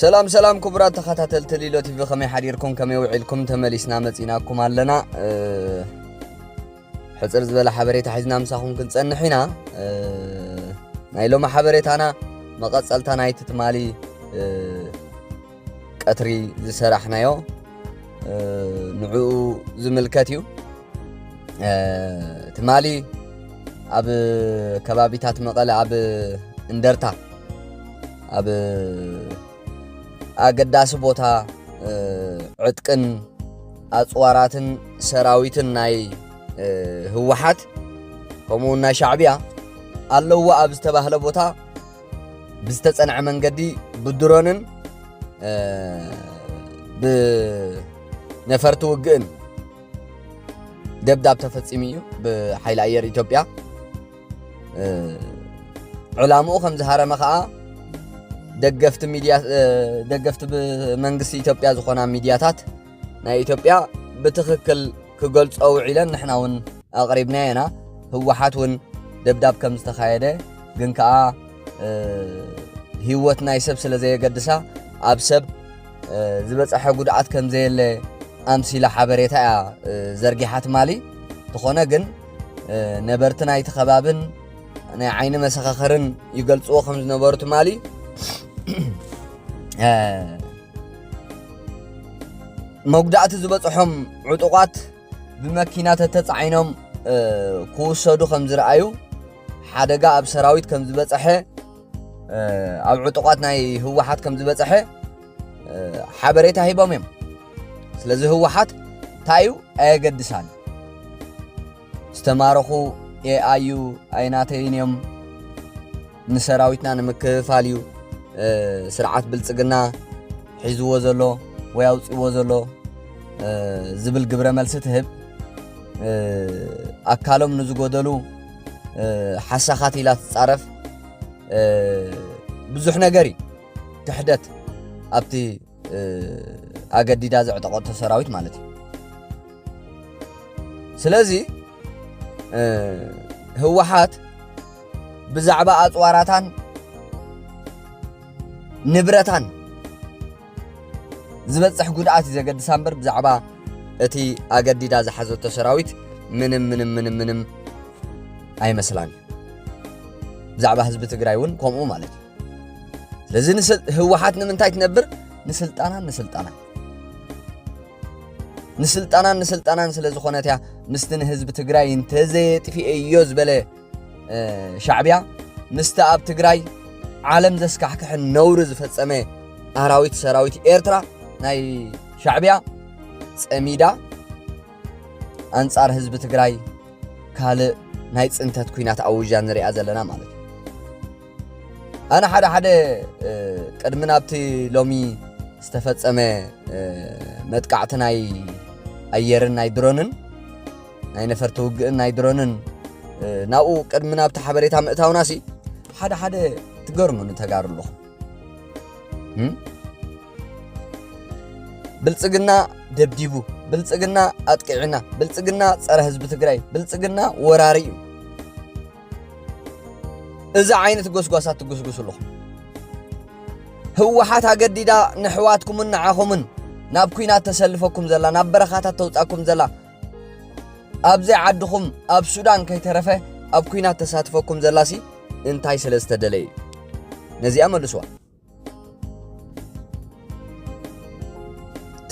ሰላም ሰላም ክቡራት ተኸታተልቲ ሊሎ ቲቪ ከመይ ሓዲርኩም ከመይ ውዒልኩም ተመሊስና መፂናኩም ኣለና ሕፅር ዝበለ ሓበሬታ ሒዝና ምሳኹም ክንፀንሕ ኢና ናይ ሎሚ ሓበሬታና መቐፀልታ ናይቲ ትማሊ ቀትሪ ዝሰራሕናዮ ንዕኡ ዝምልከት እዩ ትማሊ ኣብ ከባቢታት መቐለ ኣብ እንደርታ ኣብ ኣገዳሲ ቦታ ዕጥቅን ኣፅዋራትን ሰራዊትን ናይ ህወሓት ከምኡ ናይ ሻዕብያ ኣለዎ ኣብ ዝተባህለ ቦታ ብዝተፀንዐ መንገዲ ብድሮንን ብነፈርቲ ውግእን ደብዳብ ተፈፂሙ እዩ ብሓይሊ ኣየር ኢትዮጵያ ዕላምኡ ከም ዝሃረመ ከዓ ደገፍቲ ሚድያ ደገፍቲ መንግስቲ ኢትዮጵያ ዝኾና ሚድያታት ናይ ኢትዮጵያ ብትኽክል ክገልጾ ውዒለን ንሕና እውን ኣቕሪብና የና ህወሓት እውን ደብዳብ ከም ዝተኻየደ ግን ከዓ ህይወት ናይ ሰብ ስለ ዘየገድሳ ኣብ ሰብ ዝበፀሐ ጉድኣት ከም ዘየለ ኣምሲላ ሓበሬታ እያ ዘርጊሓ ትማሊ ዝኾነ ግን ነበርቲ ናይቲ ከባብን ናይ ዓይኒ መሰኻኸርን ይገልፅዎ ከም ዝነበሩ ትማሊ መጉዳእቲ ዝበፅሖም ዕጡቋት ብመኪና ተተፃዒኖም ክውሰዱ ከም ዝረኣዩ ሓደጋ ኣብ ሰራዊት ከም ዝበፀሐ ኣብ ዕጡቋት ናይ ህወሓት ከም ዝበፅሐ ሓበሬታ ሂቦም እዮም ስለዚ ህወሓት እንታይ እዩ ኣየገድሳን ዝተማረኹ ኤኣዩ ኣይናተይን እዮም ንሰራዊትና ንምክፍፋል እዩ ስርዓት ብልፅግና ሒዝዎ ዘሎ ወይ ኣውፅዎ ዘሎ ዝብል ግብረ መልሲ ትህብ ኣካሎም ንዝጎደሉ ሓሳኻት ኢላ ትጻረፍ ብዙሕ ነገር እዩ ክሕደት ኣብቲ ኣገዲዳ ዘዕጠቐቶ ሰራዊት ማለት እዩ ስለዚ ህወሓት ብዛዕባ ኣፅዋራታን ንብረታን ዝበጽሕ ጉድኣት እዩ ዘገድሳ እምበር ብዛዕባ እቲ ኣገዲዳ ዝሓዘቶ ሰራዊት ምንም ምንም ምንም ምንም ኣይመስላን እዩ ብዛዕባ ህዝቢ ትግራይ እውን ከምኡ ማለት እዩ ስለዚ ህወሓት ንምንታይ ትነብር ንስልጣናን ንስልጣናን ንስልጣናን ንስልጣናን ስለ ዝኾነት እያ ምስቲ ንህዝቢ ትግራይ እንተዘየጥፊኤዮ ዝበለ ሻዕብያ ምስቲ ኣብ ትግራይ ዓለም ዘስካሕክሕን ነውሪ ዝፈጸመ ኣራዊት ሰራዊት ኤርትራ ናይ ሻዕብያ ጸሚዳ ኣንጻር ህዝቢ ትግራይ ካልእ ናይ ጽንተት ኩናት ኣውጃ ንሪኣ ዘለና ማለት እዩ ኣነ ሓደ ሓደ ቅድሚ ናብቲ ሎሚ ዝተፈጸመ መጥቃዕቲ ናይ ኣየርን ናይ ድሮንን ናይ ነፈርቲ ውግእን ናይ ድሮንን ናብኡ ቅድሚ ናብቲ ሓበሬታ ምእታውና ሲ ሓደ ሓደ ትገርሙ ንተጋሩ ኣለኹም ብልፅግና ደብዲቡ ብልፅግና ኣጥቂዕና ብልፅግና ፀረ ህዝቢ ትግራይ ብልፅግና ወራሪ እዩ እዚ ዓይነት ጎስጓሳት ትጉስጉሱ ኣለኹም ህወሓት ኣገዲዳ ንሕዋትኩምን ንዓኹምን ናብ ኩናት ተሰልፈኩም ዘላ ናብ በረኻታት ተውፃኩም ዘላ ኣብዚ ዓድኹም ኣብ ሱዳን ከይተረፈ ኣብ ኩናት ተሳትፈኩም ዘላሲ እንታይ ስለ ዝተደለ እዩ ነዚኣ መልስዋ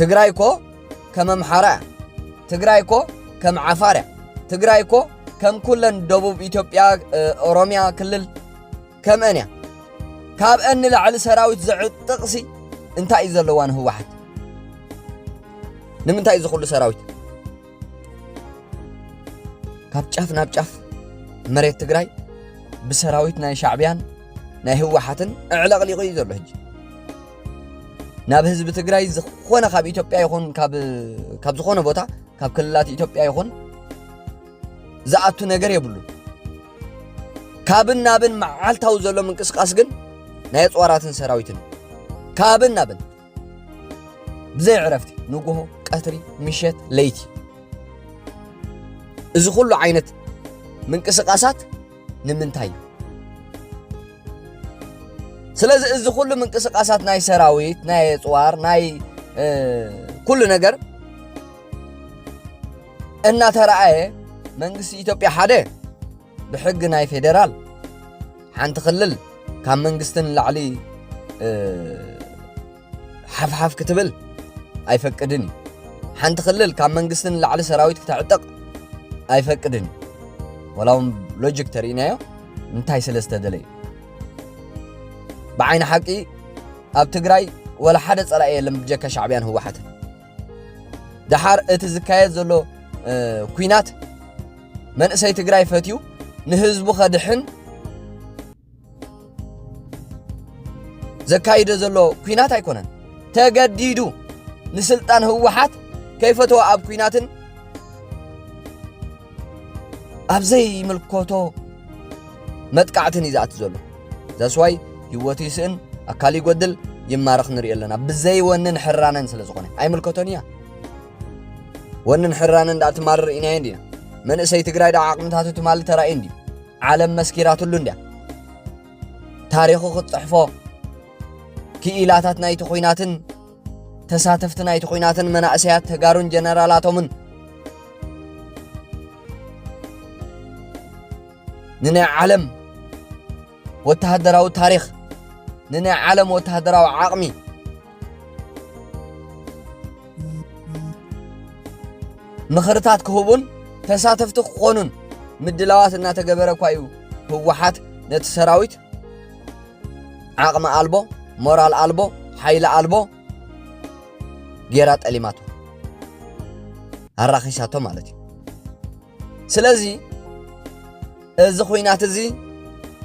ትግራይ እኮ ከም ኣምሓራ እያ ትግራይ እኮ ከም ዓፋር እያ ትግራይ እኮ ከም ኩለን ደቡብ ኢትዮጵያ ኦሮምያ ክልል ከምአን እያ ካብአን ንላዕሊ ሰራዊት ዘዕጥቕሲ እንታይ እዩ ዘለዋ ንህወሓት ንምንታይ እዚ ኩሉ ሰራዊት ካብ ጫፍ ናብ ጫፍ መሬት ትግራይ ብሰራዊት ናይ ሻዕብያን ናይ ህወሓትን እዕለቕሊቑ እዩ ዘሎ ሕጂ ናብ ህዝቢ ትግራይ ዝኾነ ካብ ኢትዮጵያ ይኹን ካብ ዝኾነ ቦታ ካብ ክልላት ኢትዮጵያ ይኹን ዝኣቱ ነገር የብሉን ካብን ናብን መዓልታዊ ዘሎ ምንቅስቃስ ግን ናይ ኣፅዋራትን ሰራዊትን ካብን ናብን ብዘይ ዕረፍቲ ንጉሆ ቀትሪ ምሸት ለይቲ እዚ ኩሉ ዓይነት ምንቅስቃሳት ንምንታይ እዩ ስለዚ እዚ ኩሉ ምንቅስቃሳት ናይ ሰራዊት ናይ ኣፅዋር ናይ ኩሉ ነገር እናተረኣየ መንግስቲ ኢትዮጵያ ሓደ ብሕጊ ናይ ፌደራል ሓንቲ ክልል ካብ መንግስቲ ንላዕሊ ሓፍሓፍ ክትብል ኣይፈቅድን እዩ ሓንቲ ክልል ካብ መንግስቲ ንላዕሊ ሰራዊት ክተዕጥቕ ኣይፈቅድን እዩ ወላ እውን ሎጂክ ተርእናዮ እንታይ ስለ ዝተደለዩ ብዓይኒ ሓቂ ኣብ ትግራይ ወላ ሓደ ፀላኢ የለን ብጀካ ሻዕብያን ህወሓትን ደሓር እቲ ዝካየድ ዘሎ ኩናት መንእሰይ ትግራይ ፈትዩ ንህዝቡ ከድሕን ዘካይደ ዘሎ ኩናት ኣይኮነን ተገዲዱ ንስልጣን ህወሓት ከይፈተወ ኣብ ኩናትን ኣብ ዘይምልከቶ መጥቃዕትን እዩ ዝኣት ዘሎ ዘስዋይ ህይወቱ ይስእን ኣካል ይጎድል ይማረኽ ንሪኦ ኣለና ብዘይ ወንን ሕራነን ስለ ዝኾነ ኣይምልከቶን እያ ወንን ሕራነን ዳኣ ትማርር ኢና እንዲና መንእሰይ ትግራይ ዳኣ ዓቕምታቱ ትማሊ ተራእዩ እንዲ ዓለም መስኪራትሉ እንዲያ ታሪኹ ክትፅሕፎ ክኢላታት ናይቲ ኩናትን ተሳተፍቲ ናይቲ ኹናትን መናእሰያት ተጋሩን ጀነራላቶምን ንናይ ዓለም ወተሃደራዊ ታሪኽ ንናይ ዓለም ወተሃደራዊ ዓቕሚ ምኽርታት ክህቡን ተሳተፍቲ ክኾኑን ምድላዋት እናተገበረ እኳ እዩ ህወሓት ነቲ ሰራዊት ዓቕሚ ኣልቦ ሞራል ኣልቦ ሓይሊ ኣልቦ ጌራ ጠሊማቶ ኣራኺሳቶ ማለት እዩ ስለዚ እዚ ኩናት እዚ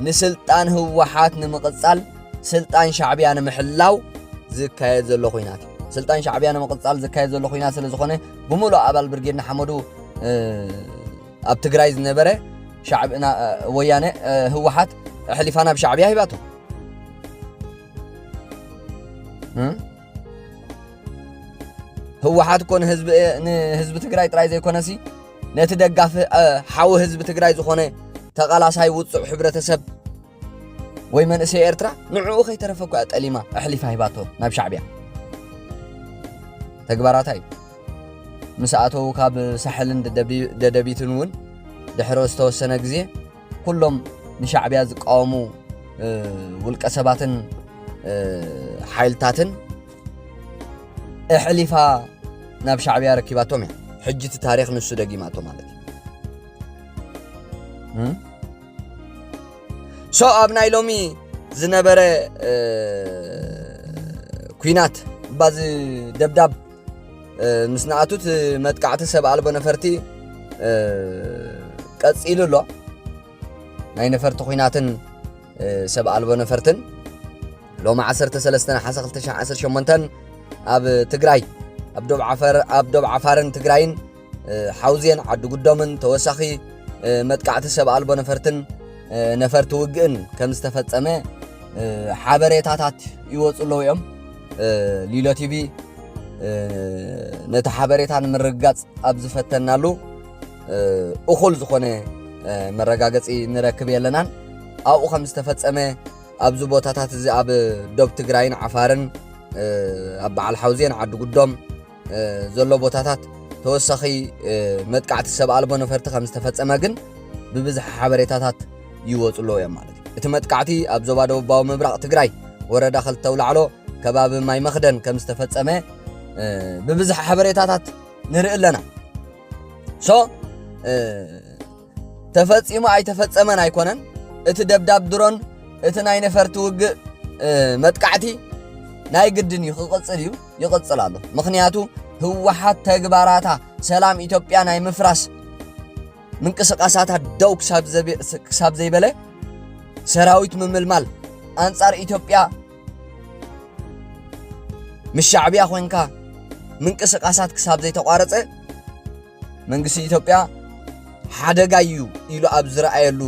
ንስልጣን ህወሓት ንምቕጻል ስልጣን ሻዕብያ ንምሕላው ዝካየድ ዘሎ ኩናት እዩ ስልጣን ሻዕብያ ንምቕጻል ዝካየድ ዘሎ ኩናት ስለ ዝኾነ ብምሉእ ኣባል ብርጌድ ንሓመዱ ኣብ ትግራይ ዝነበረ ሻዕብ እና ወያነ ህወሓት ኣሕሊፋ ናብ ሻዕብያ ሂባቶ ህወሓት እኮ ንህዝቢ ትግራይ ጥራይ ዘይኮነሲ ነቲ ደጋፊ ሓዊ ህዝቢ ትግራይ ዝኾነ ተቓላሳይ ውፁዕ ሕብረተሰብ ወይ መንእሰይ ኤርትራ ንዕኡ ከይተረፈ እኳ ጠሊማ ኣሕሊፋ ሂባቶ ናብ ሻዕብያ ተግባራታ እዩ ምስ ኣተዉ ካብ ሳሕልን ደደቢትን እውን ድሕሪ ዝተወሰነ ግዜ ኩሎም ንሻዕብያ ዝቃወሙ ውልቀ ሰባትን ሓይልታትን እሕሊፋ ናብ ሻዕብያ ረኪባቶም እያ ሕጂ እቲ ታሪክ ንሱ ደጊማቶ ማለት እዩ ሶ ኣብ ናይ ሎሚ ዝነበረ ኩናት ባዚ ደብዳብ ምስ ንኣቱት መጥቃዕቲ ሰብ ኣልቦ ነፈርቲ ቀፂሉ ኣሎ ናይ ነፈርቲ ኩናትን ሰብ ኣልቦ ነፈርትን ሎሚ 13 ነሓሰ 2018 ኣብ ትግራይ ኣብ ዶብ ዓፋርን ትግራይን ሓውዜን ዓዲ ጉዶምን ተወሳኺ መጥቃዕቲ ሰብ ኣልቦ ነፈርትን ነፈርቲ ውግእን ከም ዝተፈጸመ ሓበሬታታት ይወፁ ኣለዉ እዮም ሊሎ ቲቪ ነቲ ሓበሬታ ንምርግጋፅ ኣብ ዝፈተናሉ እኹል ዝኾነ መረጋገፂ ንረክብ የለናን ኣብኡ ከም ዝተፈጸመ ኣብዚ ቦታታት እዚ ኣብ ዶብ ትግራይን ዓፋርን ኣብ በዓል ሓውዜን ዓዲ ጉዶም ዘሎ ቦታታት ተወሳኺ መጥቃዕቲ ሰብ ኣልቦ ነፈርቲ ከም ዝተፈጸመ ግን ብብዝሒ ሓበሬታታት ይወፁ ኣለዉ እዮም ማለት እዩ እቲ መጥቃዕቲ ኣብ ዞባ ደቡባዊ ምብራቕ ትግራይ ወረዳ ክልተ ውላዕሎ ከባቢ ማይ መኽደን ከም ዝተፈጸመ ብብዝሒ ሓበሬታታት ንርኢ ኣለና ሶ ተፈጺሙ ኣይተፈጸመን ኣይኮነን እቲ ደብዳብ ድሮን እቲ ናይ ነፈርቲ ውግእ መጥቃዕቲ ናይ ግድን እዩ ክቕጽል እዩ ይቕጽል ኣሎ ምክንያቱ ህወሓት ተግባራታ ሰላም ኢትዮጵያ ናይ ምፍራስ ምንቅስቃሳታ ደው ክሳብ ዘይበለ ሰራዊት ምምልማል ኣንጻር ኢትዮጵያ ምስ ሻዕብያ ኮንካ ምንቅስቃሳት ክሳብ ዘይተቋረፀ መንግስቲ ኢትዮጵያ ሓደጋ እዩ ኢሉ ኣብ ዝረኣየሉ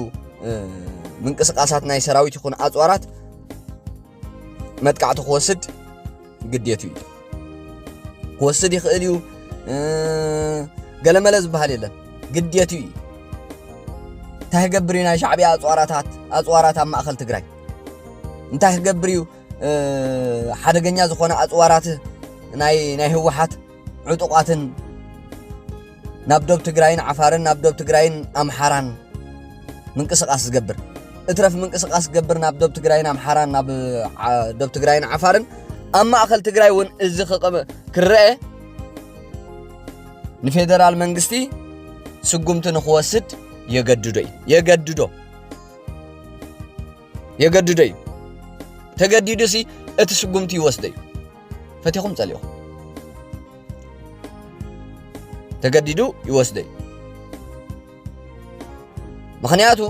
ምንቅስቓሳት ናይ ሰራዊት ይኹን ኣፅዋራት መጥቃዕቲ ክወስድ ግዴቱ እዩ ክወስድ ይኽእል እዩ ገለመለ ዝበሃል የለን ግዴቱ እዩ እንታይ ክገብር እዩ ናይ ሻዕብያ ኣፅዋራታት ኣፅዋራት ኣብ ማእኸል ትግራይ እንታይ ክገብር እዩ ሓደገኛ ዝኾነ ኣፅዋራት ናይ ህወሓት ዕጡቓትን ናብ ዶብ ትግራይን ዓፋርን ናብ ዶብ ትግራይን ኣምሓራን ምንቅስቓስ ዝገብር እትረፍ ምንቅስቓስ ዝገብር ናብ ዶብ ትግራይን ኣምሓራን ናብ ዶብ ትግራይን ዓፋርን ኣብ ማእኸል ትግራይ እውን እዚ ክረአ ንፌደራል መንግስቲ ስጉምቲ ንክወስድ የገድዶ እዩ የገድዶ የገድዶ እዩ ተገዲዱ ሲ እቲ ስጉምቲ ይወስደ እዩ ፈቲኹም ጸሊእኹም ተገዲዱ ይወስዶ እዩ ምክንያቱ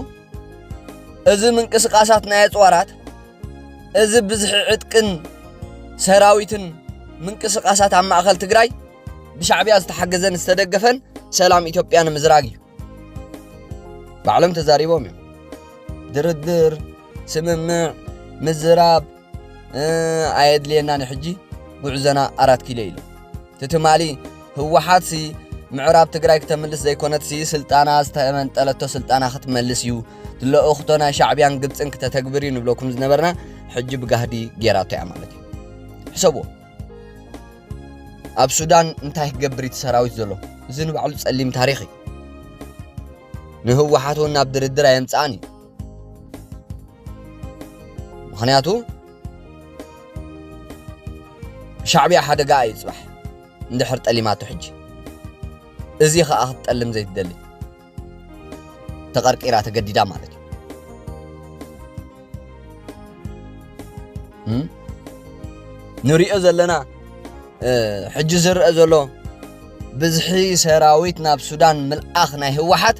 እዚ ምንቅስቃሳት ናይ ኣፅዋራት እዚ ብዝሒ ዕጥቅን ሰራዊትን ምንቅስቃሳት ኣብ ማእኸል ትግራይ ብሻዕብያ ዝተሓገዘን ዝተደገፈን ሰላም ኢትዮጵያ ንምዝራግ እዩ ባዕሎም ተዛሪቦም እዮም ድርድር ስምምዕ ምዝራብ ኣየድልየና ንሕጂ ጉዕዘና ኣራት ኪሎ ኢሉ ትትማሊ ህወሓት ሲ ምዕራብ ትግራይ ክተምልስ ዘይኮነት ሲ ስልጣና ዝተመንጠለቶ ስልጣና ክትመልስ እዩ ዝለእኽቶ ናይ ሻዕብያን ግብፅን ክተተግብር እዩ ንብለኩም ዝነበርና ሕጂ ብጋህዲ ጌራቶ እያ ማለት እዩ ሕሰብዎ ኣብ ሱዳን እንታይ ክገብር እቲ ሰራዊት ዘሎ እዚ ንባዕሉ ጸሊም ታሪኽ እዩ ንህወሓት እውን ናብ ድርድር ኣየምጽኣን እዩ ምክንያቱ ሻዕብያ ሓደጋ እዩ ጽባሕ እንድሕር ጠሊማቶ ሕጂ እዚ ኸኣ ክትጠልም ዘይትደሊ ተቐርቂራ ተገዲዳ ማለት እዩ ንሪኦ ዘለና ሕጂ ዝርአ ዘሎ ብዝሒ ሰራዊት ናብ ሱዳን ምልኣኽ ናይ ህወሓት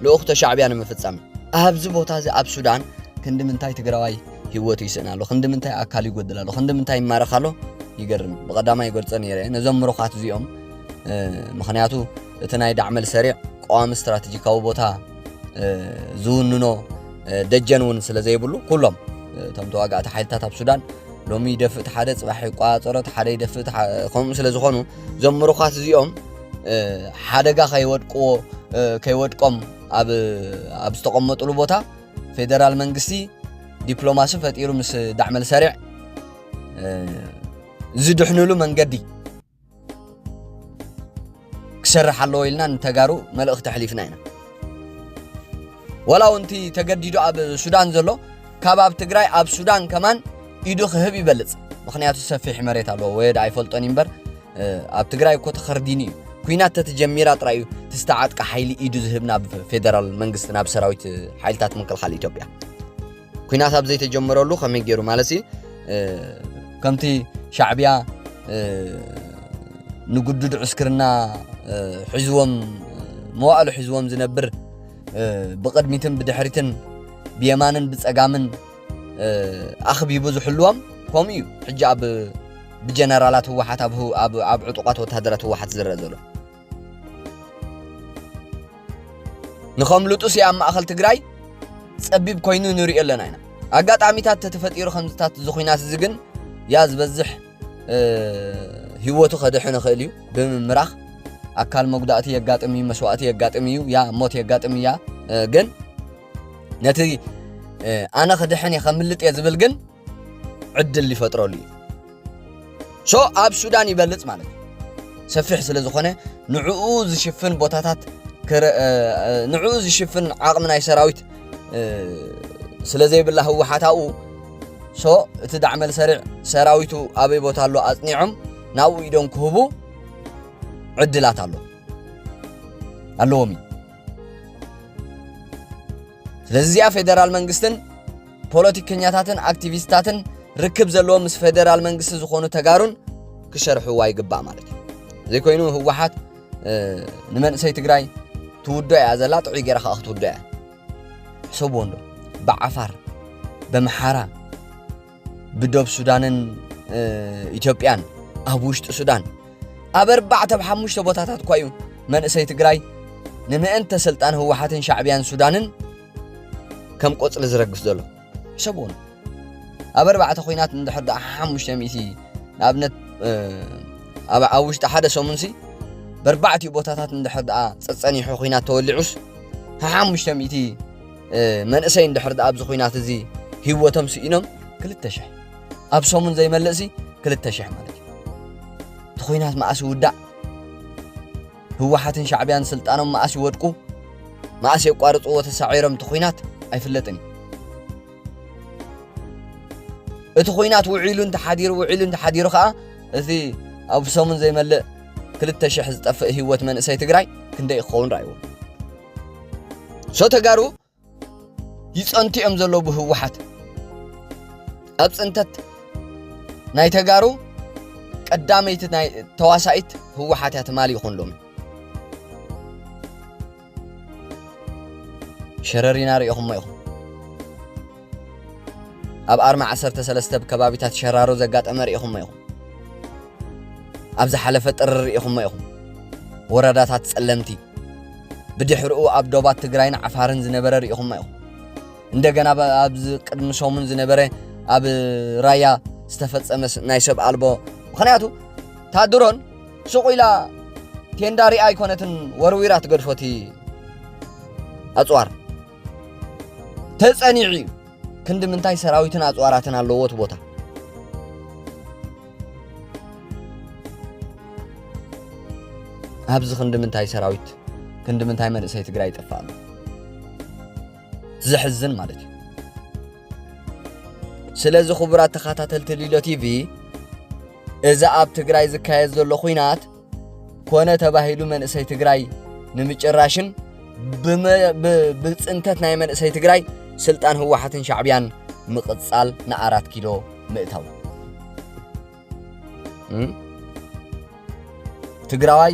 ልኡኽቶ ሻዕብያ ንምፍጻም ኣብዚ ቦታ እዚ ኣብ ሱዳን ክንዲ ምንታይ ትግራዋይ ህይወቱ ይስእን ኣሎ ክንዲ ምንታይ ኣካል ይጎድል ኣሎ ክንዲ ምንታይ ይማረኽ ኣሎ ይገርም ብቐዳማ ይገልጾ ነይረ ነዞም ምሩኻት እዚኦም ምክንያቱ እቲ ናይ ዳዕመል ሰሪዕ ቀዋሚ ስትራቴጂካዊ ቦታ ዝውንኖ ደጀን እውን ስለ ዘይብሉ ኩሎም እቶም ተዋጋእቲ ሓይልታት ኣብ ሱዳን ሎሚ ይደፍእ ሓደ ፅባሕ ይቋፀሮ ሓደ ይደፍእ ከምኡ ስለ ዝኾኑ እዞም ምሩኻት እዚኦም ሓደጋ ከይወድቅዎ ከይወድቆም ኣብ ዝተቐመጡሉ ቦታ ፌደራል መንግስቲ ዲፕሎማሲ ፈጢሩ ምስ ዳዕመል ሰሪዕ ዝድሕንሉ መንገዲ ክሰርሕ ኣለዎ ኢልና ንተጋሩ መልእኽቲ ኣሕሊፍና ኢና ወላ ውንቲ ተገዲዱ ኣብ ሱዳን ዘሎ ካብ ኣብ ትግራይ ኣብ ሱዳን ከማን ኢዱ ክህብ ይበልፅ ምክንያቱ ሰፊሕ መሬት ኣለዎ ወየ ዳ ኣይፈልጦን እምበር ኣብ ትግራይ እኮ ተኸርዲኑ እዩ ኩናት ተትጀሚራ ጥራይ እዩ ትስተዓጥቀ ሓይሊ ኢዱ ዝህብ ናብ ፌደራል መንግስቲ ናብ ሰራዊት ሓይልታት ምክልኻል ኢትዮጵያ ኩናት ኣብ ዘይተጀመረሉ ከመይ ገይሩ ማለት ከምቲ ሻዕብያ ንግዱድ ዕስክርና ሒዝዎም መዋእሉ ሒዝዎም ዝነብር ብቕድሚትን ብድሕሪትን ብየማንን ብፀጋምን ኣኽቢቡ ዝሕልዎም ከምኡ እዩ ሕጂ ኣብ ብጀነራላት ህወሓት ኣብ ዕጡቋት ወተሃደራት ህወሓት ዝረአ ዘሎ ንኸምልጡስ ኣብ ማእኸል ትግራይ ጸቢብ ኮይኑ ንሪኦ ኣለና ኢና ኣጋጣሚታት ተተፈጢሩ ከምዝታት እዚ ኩናት እዚ ግን ያ ዝበዝሕ ህይወቱ ከድሕን ይኽእል እዩ ብምምራኽ ኣካል መጉዳእቲ የጋጥም እዩ መስዋእቲ የጋጥም እዩ ያ ሞት የጋጥም እያ ግን ነቲ ኣነ ክድሕን እየ ከምልጥ እየ ዝብል ግን ዕድል ይፈጥረሉ እዩ ሶ ኣብ ሱዳን ይበልፅ ማለት እዩ ሰፊሕ ስለ ዝኾነ ንዕኡ ዝሽፍን ቦታታት ንዕኡ ዝሽፍን ዓቕሚ ናይ ሰራዊት ስለ ዘይብላ ህወሓት ኣብኡ ሶ እቲ ዳዕመል ሰሪዕ ሰራዊቱ ኣበይ ቦታ ኣሎ ኣፅኒዖም ናብኡ ኢዶም ክህቡ ዕድላት ኣሎ ኣለዎም እዩ ስለዚ እዚኣ ፌደራል መንግስትን ፖለቲከኛታትን ኣክቲቪስታትን ርክብ ዘለዎም ምስ ፌደራል መንግስቲ ዝኾኑ ተጋሩን ክሸርሕዋ ይግባእ ማለት እዩ ዘይኮይኑ ህወሓት ንመንእሰይ ትግራይ ትውዶ እያ ዘላ ጥዑይ ገይራ ከዓ ክትውዶ እያ ሕሰብዎ እንዶ ብዓፋር በምሓራ ብዶብ ሱዳንን ኢትዮጵያን ኣብ ውሽጢ ሱዳን ኣብ ኣርባዕተ ብ ሓሙሽተ ቦታታት እኳ እዩ መንእሰይ ትግራይ ንምእንተ ስልጣን ህወሓትን ሻዕብያን ሱዳንን ከም ቆጽሊ ዝረግፍ ዘሎ ሕሰብዎ ኣብ ኣርባዕተ ኩናት እንድሕር ደኣ ሓሙሽተ ሚእቲ ንኣብነት ኣብ ውሽጢ ሓደ ሰሙንሲ በርባዕቲኡ ቦታታት እንድሕር ደኣ ጸጸኒሑ ኩናት ተወሊዑስ ሓሙሽተ ሚእቲ መንእሰይ እንድሕር ደኣ ኣብዚ ኩናት እዚ ህይወቶም ስኢኖም ክልተ ሽሕ ኣብ ሰሙን ዘይመልእሲ ክልተ ሽሕ ማለት እዩ እቲ ኩናት መኣስ ይውዳእ ህወሓትን ሻዕቢያን ስልጣኖም መኣስ ይወድቁ መኣስ የቋርፅዎ ተሳዒሮም እቲ ኹናት ኣይፍለጥን እዩ። እቲ ኹናት ውዒሉ እንተሓዲሩ ውዒሉ እንተሓዲሩ ከዓ እቲ ኣብ ሰሙን ዘይመልእ ክልተ ሽሕ ዝጠፍእ ህይወት መንእሰይ ትግራይ ክንደይ ክኸውን ረኣይዎ ሶ ተጋሩ ይጸንቱ እዮም ዘለዉ ብህወሓት ኣብ ጽንተት ናይ ተጋሩ ቀዳመይቲ ናይ ተዋሳኢት ህወሓት እያ ትማሊ ይኹን ሎሚ ሸረሪና ሪኢኹሞ ኢኹም ኣብ ኣርማ ዓሰርተ ሰለስተ ብ ከባቢታት ሸራሮ ዘጋጠመ ርኢኹሞ ኢኹም። ኣብ ዝሓለፈ ጥሪ ርኢኹሞ ኢኹም። ወረዳታት ጸለምቲ ብድሕርኡ ኣብ ዶባት ትግራይን ዓፋርን ዝነበረ ርኢኹሞ ኢኹም። እንደገና ኣብዚ ቅድሚ ሰሙን ዝነበረ ኣብ ራያ ዝተፈጸመ ናይ ሰብ ኣልቦ ምክንያቱ እታ ድሮን ሱቕ ኢላ ቴንዳ ሪኣ ኣይኮነትን ወርዊራ ትገድፎቲ ኣጽዋር ተጸኒዑ እዩ ክንዲ ምንታይ ሰራዊትን ኣጽዋራትን ኣለዎ እቲ ቦታ ኣብዚ ክንዲ ምንታይ ሰራዊት ክንዲ ምንታይ መንእሰይ ትግራይ ይጠፍእ ኣሎ ዘሕዝን ማለት እዩ ስለዚ ክቡራት ተኸታተልቲ ሊሎ ቲቪ እዚ ኣብ ትግራይ ዝካየድ ዘሎ ኩናት ኮነ ተባሂሉ መንእሰይ ትግራይ ንምጭራሽን ብፅንተት ናይ መንእሰይ ትግራይ ስልጣን ህወሓትን ሻዕብያን ምቕፃል ንኣራት ኪሎ ምእታው ትግራዋይ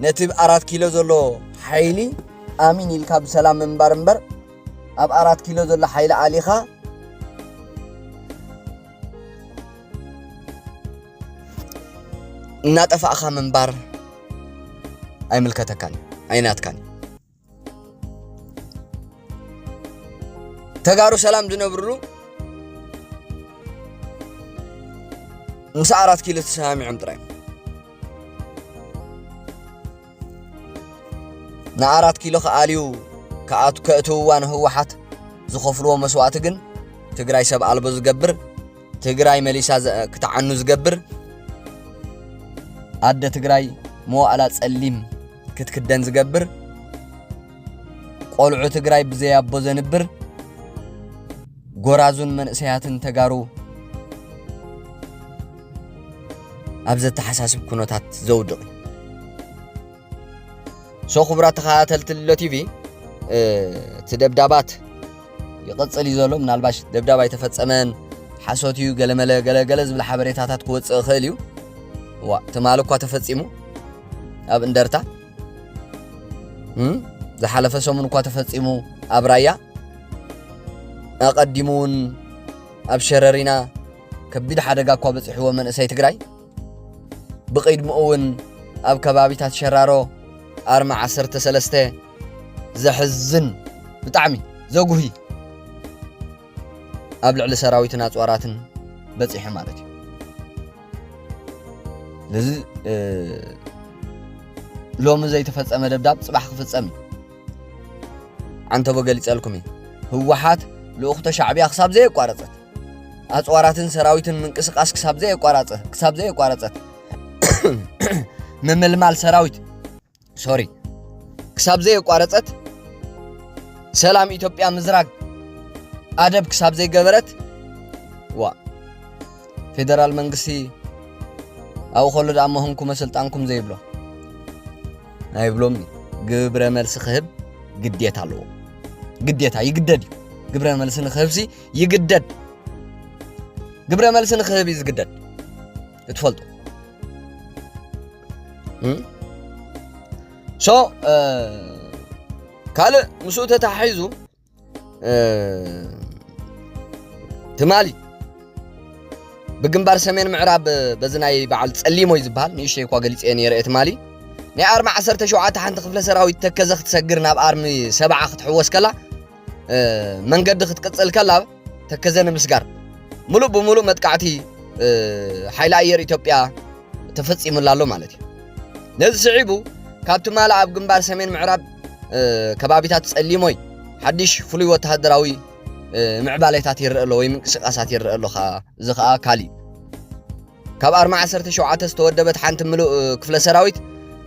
ነቲ ኣራት ኪሎ ዘሎ ሓይሊ ኣሚን ኢልካ ብሰላም ምንባር እምበር ኣብ ኣራት ኪሎ ዘሎ ሓይሊ ኣሊኻ እናጠፋእኻ ምንባር ኣይምልከተካን ኣይናትካን ተጋሩ ሰላም ዝነብርሉ ምስ ኣራት ኪሎ ተሰማሚዖም ጥራይ ንኣራት ኪሎ ክኣልዩ ክኣቱ ከእትውዋ ንህወሓት ዝኸፍልዎ መስዋእቲ ግን ትግራይ ሰብ ኣልቦ ዝገብር ትግራይ መሊሳ ዘ- ክትዓኑ ዝገብር ኣደ ትግራይ መዋእላ ጸሊም ክትክደን ዝገብር ቆልዑ ትግራይ ብዘያቦ ዘንብር ጎራዙን መንእሰያትን ተጋሩ ኣብ ዘተሓሳስብ ኩነታት ዘውድቕ እዩ ሶ ክቡራት ተኸታተልቲ ሎ ቲቪ እቲ ደብዳባት ይቕፅል እዩ ዘሎ ምናልባሽ ደብዳብ ኣይተፈፀመን ሓሶት እዩ ገለመለ ገለገለ ዝብል ሓበሬታታት ክወፅእ ይኽእል እዩ ዋ ትማሊ እኳ ተፈፂሙ ኣብ እንደርታ ዝሓለፈ ሰሙን እኳ ተፈፂሙ ኣብ ራያ ኣቐዲሙ እውን ኣብ ሸረሪና ከቢድ ሓደጋ እኳ በፂሕዎ መንእሰይ ትግራይ ብቕድምኡ እውን ኣብ ከባቢታት ሸራሮ ኣርማ 13 ዘሕዝን ብጣዕሚ ዘጉሂ ኣብ ልዕሊ ሰራዊትን ኣፅዋራትን በፂሑ ማለት እዩ ስለዚ ሎሚ ዘይተፈፀመ ደብዳብ ፅባሕ ክፍፀም እዩ ዓንተቦ ገሊጸልኩም እዩ ህወሓት ልኡኽቶ ሻዕብያ ክሳብ ዘየቋረጸት ኣፅዋራትን ሰራዊትን ምንቅስቃስ ክሳብ ዘየቋራጸ ክሳብ ዘየቋረጸት ምምልማል ሰራዊት ሶሪ ክሳብ ዘየቋረጸት ሰላም ኢትዮጵያ ምዝራግ ኣደብ ክሳብ ዘይገበረት ዋ ፌደራል መንግስቲ ኣብኡ ከሎ ደኣ መሆንኩመ ስልጣንኩም ዘይብሎ ኣይብሎምን ግብረ መልሲ ክህብ ግዴታ ኣለዎ ግዴታ ይግደድ እዩ ግብረ መልሲ ንክህብሲ ይግደድ ግብረ መልሲ ንክህብ እዩ ዝግደድ እትፈልጡ ሶ ካልእ ምስኡ ተታሒዙ ትማሊ ብግንባር ሰሜን ምዕራብ በዚ ናይ በዓል ጸሊሞይ ዝበሃል ንእሽተይ እኳ ገሊፀ ነይረ ትማሊ ናይ ኣርሚ 17 ሓንቲ ክፍለ ሰራዊት ተከዘ ክትሰግር ናብ ኣርሚ ሰብዓ ክትሕወስ ከላ መንገዲ ክትቅፅል ከላ ተከዘ ንምስጋር ሙሉእ ብሙሉእ መጥቃዕቲ ሓይሊ ኣየር ኢትዮጵያ ተፈፂሙላ ኣሎ ማለት እዩ ነዚ ስዒቡ ካብ ትማሊ ኣብ ግንባር ሰሜን ምዕራብ ከባቢታት ፀሊሞይ ሓድሽ ፍሉይ ወተሃደራዊ ምዕባሌታት ይረአ ኣሎ ወይ ምንቅስቃሳት ይረአ ኣሎ እዚ ከዓ ካሊእ ካብ ኣርማ ዓሰርተ ሸውዓተ ዝተወደበት ሓንቲ ምሉእ ክፍለ ሰራዊት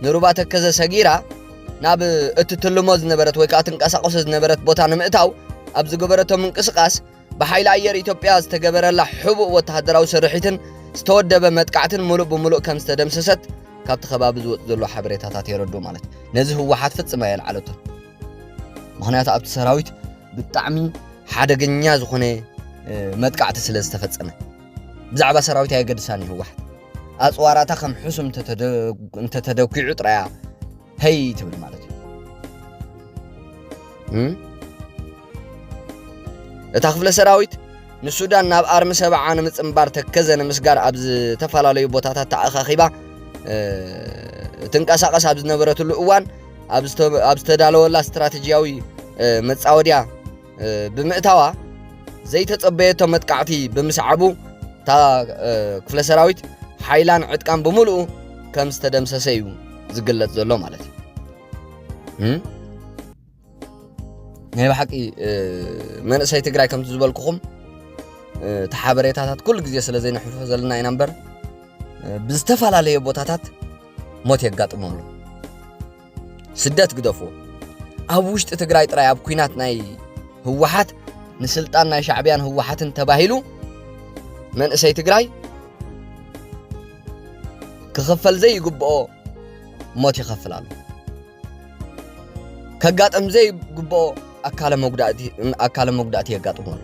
ንሩባ ተከዘ ሰጊራ ናብ እትትልሞ ዝነበረት ወይ ከዓ ትንቀሳቀሶ ዝነበረት ቦታ ንምእታው ኣብ ዝገበረቶ ምንቅስቃስ ብሓይሊ ኣየር ኢትዮጵያ ዝተገበረላ ሕቡእ ወተሃደራዊ ስርሒትን ዝተወደበ መጥቃዕትን ሙሉእ ብሙሉእ ከም ዝተደምሰሰት ካብቲ ከባቢ ዝወፅ ዘሎ ሓበሬታታት የረዱ ማለት እዩ ነዚ ህወሓት ፍፅመ የልዓለቶ ምክንያቱ ኣብቲ ሰራዊት ብጣዕሚ ሓደገኛ ዝኾነ መጥቃዕቲ ስለ ዝተፈፀመ ብዛዕባ ሰራዊት ኣየገድሳን እዩ ህወሓት ኣፅዋራታ ከም ሕሱም እንተተደኪዑ ጥራያ ሀይ ትብል ማለት እዩ እታ ክፍለ ሰራዊት ንሱዳን ናብ ኣርሚ ሰብዓ ንምፅምባር ተከዘ ንምስጋር ኣብ ዝተፈላለዩ ቦታታት ተኣኻኺባ ትንቀሳቐስ ኣብ ዝነበረትሉ እዋን ኣብ ዝተዳለወላ ስትራቴጂያዊ መፃወድያ ብምእታዋ ዘይተጸበየቶ መጥቃዕቲ ብምስዓቡ እታ ክፍለ ሰራዊት ሓይላን ዕጥቃን ብምልኡ ከም ዝተደምሰሰ እዩ ዝግለጽ ዘሎ ማለት እዩ ናይ ብሓቂ መንእሰይ ትግራይ ከምቲ ዝበልኩኹም እቲ ሓበሬታታት ኩሉ ግዜ ስለ ዘይንሕልፎ ዘለና ኢና እምበር ብዝተፈላለየ ቦታታት ሞት የጋጥሞ ኣሎ ስደት ግደፎ ኣብ ውሽጢ ትግራይ ጥራይ ኣብ ኩናት ናይ ህወሓት ንስልጣን ናይ ሻዕብያን ህወሓትን ተባሂሉ መንእሰይ ትግራይ ክኽፈል ዘይግብኦ ሞት ይኸፍል ኣሎ ከጋጥም ዘይግብኦ ኣካለ መጉዳእቲ የጋጥሞ ኣሎ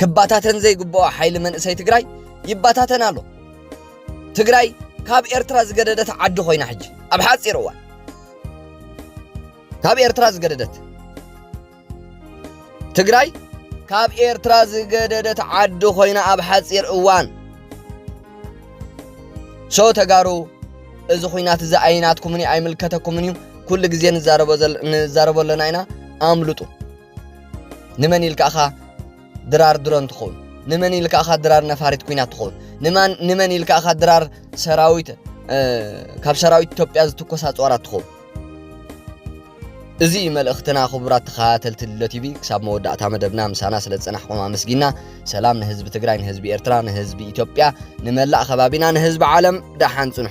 ክባታተን ዘይግብኦ ሓይሊ መንእሰይ ትግራይ ይባታተን ኣሎ ትግራይ ካብ ኤርትራ ዝገደደት ዓዲ ኮይና ሕጂ ኣብ ሓፂር እዋን ካብ ኤርትራ ዝገደደት ትግራይ ካብ ኤርትራ ዝገደደት ዓዲ ኮይና ኣብ ሓፂር እዋን ሶ ተጋሩ እዚ ኩናት እዚ ኣይናትኩምን እዩ ኣይምልከተኩምን እዩ ኩሉ ግዜ ንዛረቦ ኣለና ኢና ኣምልጡ ንመን ኢልካ እኻ ድራር ድሮን ትኸውን? ንመን ኢልካ እኻ ድራር ነፋሪት ኩናት ትኸውን? ንመን ኢልካ እኻ ድራር ሰራዊት ካብ ሰራዊት ኢትዮጵያ ዝትኮስ ኣፅዋራት ትኹ እዚ መልእኽትና ክቡራት ተኸታተልቲ ድሎ ቲቪ ክሳብ መወዳእታ መደብና ምሳና ስለ ዝፀናሕኩም ኣመስጊና ሰላም ንህዝቢ ትግራይ ንህዝቢ ኤርትራ ንህዝቢ ኢትዮጵያ ንመላእ ከባቢና ንህዝቢ ዓለም ደሓን ፅንሑ